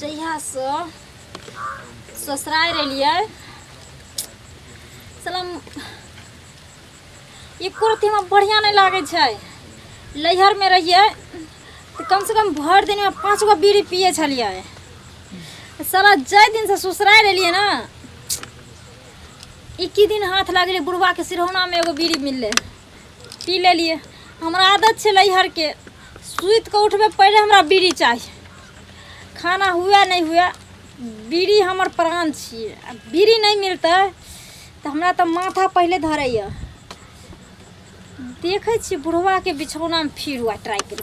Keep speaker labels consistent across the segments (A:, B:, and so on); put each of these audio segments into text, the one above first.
A: जहियासँ ससुरारि एलियै सलम ई कुर्ती हमरा बढ़िआँ नहि लागै छै लैहरमे रहियै तऽ कमसँ कम भरि दिनमे पाँच गो बीड़ी पियै छलियै साला जाहि दिनसँ ससुरारि एलियै ने इक्की दिन हाथ लगले बुढ़वा के सिरौना में एगो बीड़ी मिलले पी ले लिए हमरा आदत छे लैहर के सुत के उठबे पहले हमरा बीड़ी चाहिए खाना हुए नहीं हुए बीड़ी हमर प्राण छिए बीड़ी नहीं मिलते तो हमरा तो माथा पहले धरैए देखे छी बुढ़वा के बिछौना में फिर हुआ ट्राई कर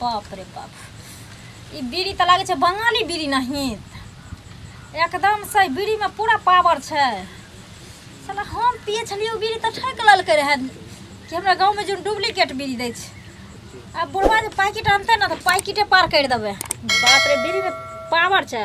A: बाप रे बाप ई बीड़ी तऽ लागै छै बंगाली बीड़ी नहीं एकदम से बीड़ीमे पूरा पावर छै साला हम पिए छलियै ओ बीड़ी तऽ ठकि लेलकै रहए कि हमरा गाँवमे जे डुप्लीकेट बीड़ी दै छै आ बुढ़वा जे पैकेट आनतै ने तऽ पैकेटे पार करि देबै बाप रे बीड़ीमे पावर छै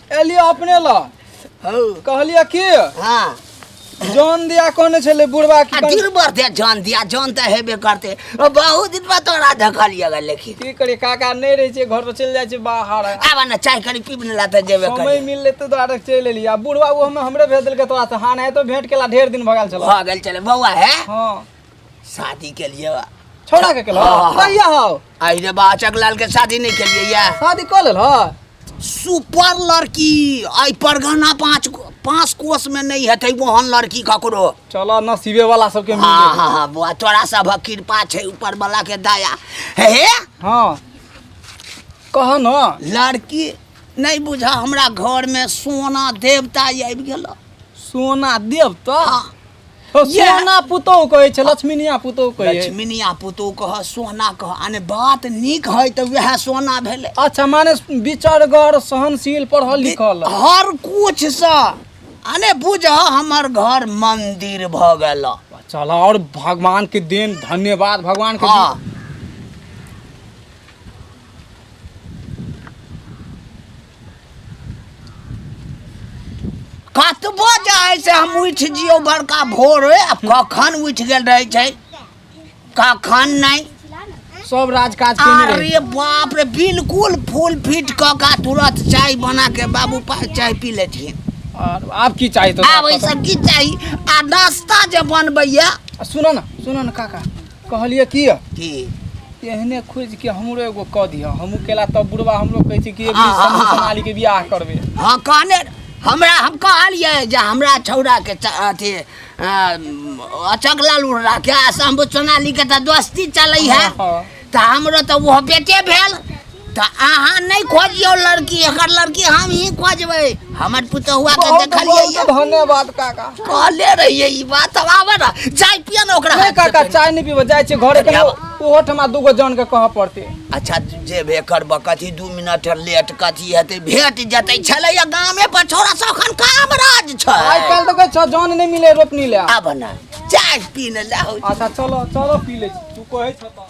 A: एलिए अपने ल हौ कहलिए की हाँ जान दिया कहने छले बुढ़वा की आ कन- दिन भर दे जान दिया जान तऽ हेबे करते ओ, बहुत दिन बाद तोरा देखलिए गे लेकिन की करे काका नहीं रहे छे घर तो चल जाए छे बाहर आबा ने चाय कनी पीब ने ला तऽ जेबे समय करी मिलले तो द्वारा चल एलिए आ बुढ़वा वो हमें हमरे भेज देलके तोरा से हान है तो भेंट केला ढेर दिन भगाल चला भऽ गेल चले बौआ हे हाँ शादी के लिए बा। छोड़ा के केलो हाँ। कहिया हो आई रे बाचक लाल के शादी नहीं के लिए या शादी कर लेल हो सुपर लड़की आई परगना पाँच पाँच कोस में नहीं हते वहन लड़की ककरो चलो नसीबे वाला सबके मिल हाँ गेल। हाँ हाँ बुआ तोरा सब कृपा छै ऊपर वाला के दया हे हे हाँ कह न लड़की नहीं बुझा हमरा घर में सोना देवता आबि गेल सोना देव तो हाँ ओ, ये- सोना पुतोह कहै छै लक्ष्मीनिया पुतोह कहै छै लक्ष्मीनिया पुतोह कह सोना कह आने बात नीक है तऽ वएह सोना भेलै अच्छा माने विचारगर सहनशील पढ़ल लिखल हर कुछ सँ आने बुझ हमर घर मंदिर भऽ गेल चल और भगवान के देन धन्यवाद भगवान के हाँ देन। कतबो जे है से हम उठि जियो बड़का भोर आ कखन उठि गेल रहै छै कखन नहि सब राज काज केने रहे अरे बाप रे बिल्कुल फुल फिट क का तुरंत चाय बना के बाबू पास चाय पी ले छी और आप की चाहिए तो आब ई सब की चाही आ नाश्ता जे बनबैया सुनो ना सुनो ना काका कहलिए की की एहने खोज के हमरो एगो क दिया हमहू केला तब बुढ़वा हमरो कहै छै कि एक दिन समूह बना ली के बियाह करबे हां कहने हमरा हम कहलिए जे हमरा छौड़ा के अथी अचक लाल उड़ा के आसाम सोनाली के त दोस्ती चलै है त हमरो त वो बेटे भेल तऽ अहाँ नहि खोजियौ लड़की एकर लड़की हम ही खोजबै हमर पुतहुआ के बहुत देखलियै बहुत ये। धन्यवाद काका कहले रहियै ई बात अब आबे ना जाय पिया ना ओकरा नहि काका चाय नहि पीबो जाइ छियै घरे कने ओहो ठमा दूगो जन के कहऽ पड़तै अच्छा जे बे करबऽ कथी दू मिनट लेट कथी हेतै भेट जेतै छलै या गामे पर छोरा सब अखन काम राज आइ छै काल्हि तऽ कहै छौ जन नहि मिले रोपनी ले आब ना चाय पी ने लाहौ अच्छा चलो चलो पी लै छी तू कहै छौ तऽ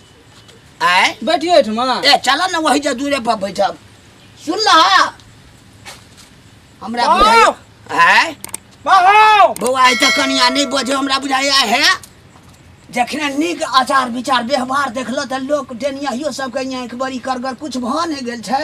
A: आय बैठियो एहिठमा ए चल ना वही जा दूरे पर बैठब सुन लहा हमरा बाउ! बुझाइए आय बाहो बौआ आइ तऽ कनिया नहि बजे हमरा बुझाइए हे जखने नीक आचार विचार व्यवहार देखलक तऽ लोक डेनियाहियो सबके यहाँ एक बड़ी करगर कुछ भऽ नहि गेल छै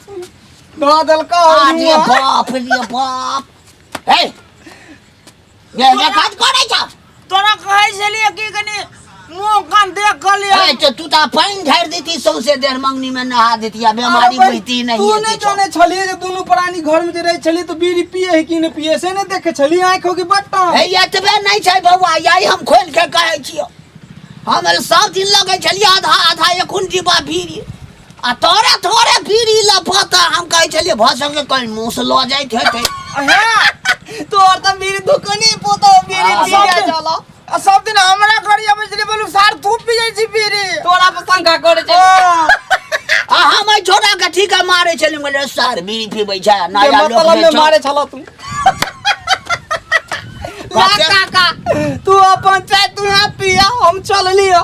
A: धऽ देलका अरे बाप रे बाप हे ये ये काज करे छ तोरा कहै छलिए कि कनी मुंह कान देख क ले ए तो तू ता पानी ढार देती सौसे देर मंगनी में नहा देती आ बीमारी होती नहीं तू नहीं जाने छलिए जे दोनों प्राणी घर में जे रहे छलिए तो बीड़ी पिए है कि नहीं पिए से नहीं देखे छलिए आंख हो कि बट्टा हे ये तबे नहीं छै बौआ यही हम खोल के कहै छियो हम सब दिन लगे छलिए आधा आधा एखुन डिब्बा बीड़ी आ तोरे थोड़े बीड़ी लफत हम कहै छलियै भऽ सके कोई मुंह से लऽ जाइ छै तोर तऽ बीड़ी दुकाने पोतो बीड़ी आ, पी सब जाइ दिन- चलो आ सब दिन हमरा घरी अबै छलै बोलू सार तू पी जाइ छी बीड़ी तोरा पर शंका करे छै आ हम एहि छोड़ा के ठीक है मारे छलियै हम कहलियै सार बीड़ी पीबै छै जे नया लोक मतलब में में मारे छल तू ला काका तू अपन चाय तू यहाँ पिया हम चलली हो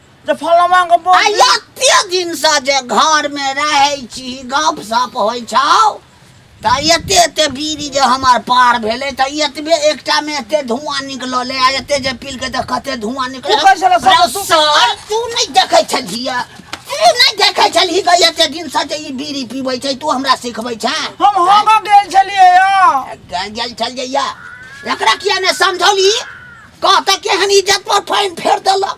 A: जे फलमा के बो- आ एते दिन से जे घर में रहे छी गप सप होइ छौ त एते एते बीड़ी जे हमर पार भेले त एतबे एकटा में एते धुआं निकलले आ एते जे पील के त कते धुआं निकले तू कैसे ला सब तू- सर तू नहीं देखे छलिया तू नहीं देखे छलही गई एते दिन से जे ई बीड़ी पीबै छै तू हमरा सिखबै छै हम होगा गेल छलिए या गल गल चल जइया एकरा किया ने समझौली कहता केहन इज्जत पर फाइन फेर देलक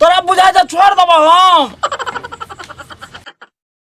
A: तोरा बुझाइ छै छोड़ देबो हम